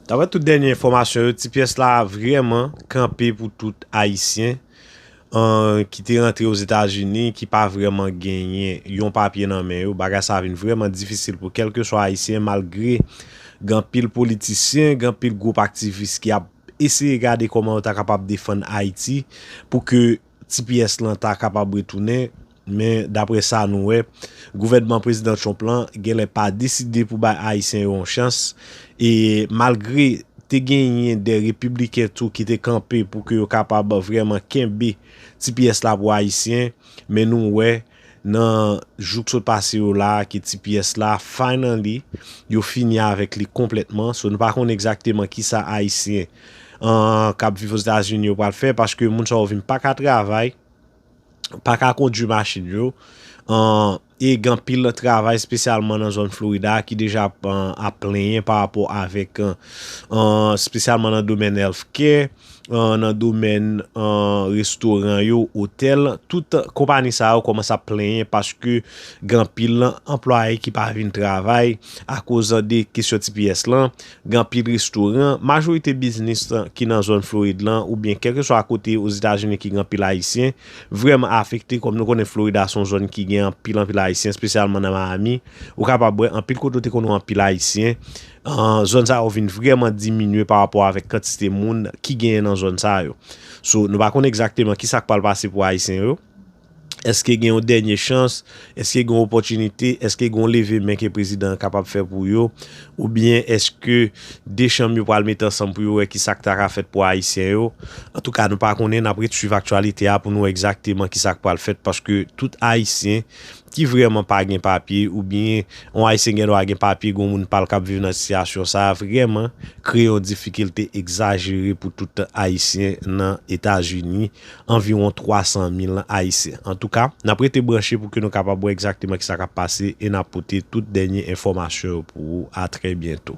Daprè tout dènye enfòmasyon yo, ti pyès la vrèman kanpe pou tout Ayisyen ki te rantre Ozetazini ki pa vrèman genyen yon papye nan men yo. Bagay sa vin vrèman difisil pou kèlkeswa Ayisyen malgre gen anpil politisyen, gen anpil gwoup aktivis ki ap eseye gade kòman yo ta kapab defann Ayiti pou ke Tps lan ta kapab retounen, men dapre sa nou wè, gouvènman Prezidan Trump lan genlè pa deside pou bay Ayisyen yo yon chans, e malgre te genyen de Repibliken tou ki te kanpe pou ke yo kapab vrèman kenbe tps la pou Ayisyen, men nou wè. Nan jou k sot pase yo la a ke ti pyès la finally yo fini avèk li konplètman so nou pa konnen egzakteman kisa ayisyen an kap viv ozetazini yo pral fè paske moun sa yo vin paka travay paka kondwi machin yo an e gen anpil travay espesyalman nan zòn florida a ki deja ap plenyen pa rapò avèk an espesyalman nan domèn health care. nan domèn restoran yo, otèl, tout konpani sa yo kòmanse ap plenyen paske gen anpil anplwaye ki pa vin travay akoz de kesyon tps lan, gen anpil restoran, majorite biznis ki nan zòn Florid lan oubyen kèlkeswa kote Ozetazini ki gen anpil Ayisyen, vrèman afekte kòm nou konnen Florida se yon zòn ki gen anpil anpil Ayisyen espesyalman nan Miami, ou kapab wè anpil kote ou te konn wè anpil Ayisyen. Zòn sa yo vin vrèman diminye pa rapò avèk kantite moun ki genyen nan zòn sa yo. So, nou pa konn egzakteman ki sa k pral pase pou Ayisyen yo. Èske gen yon dènye chans? Èske gen yon opòtinite? Èske gen yon leve men ke prezidan an kapab fè pou yo? Oubyen èske 2 chanm yo pral mete ansanm pou yo wè ki sa k ta ka fèt pou Ayisyen yo? Antouka, nou pa konnen, n ap ret suiv aktyalite a pou nou wè egzakteman ki sa k pral fèt paske tout Ayisyen ki vrèman pa gen papye oubyen yon Ayisyen gen dwa gen papye gen yon moun pa l k ap viv nan sitiyasyon sa a vrèman kreye yon difikilte egzajere pou tout Ayisyen nan Etazini, anviwon 300 mil Ayisyen. Antouka, n ap rete branche pou ke nou kapab wè egzakteman kisa k ap pase e n ap pote tout dènye enfòmasyon yo pou ou. A trè byento.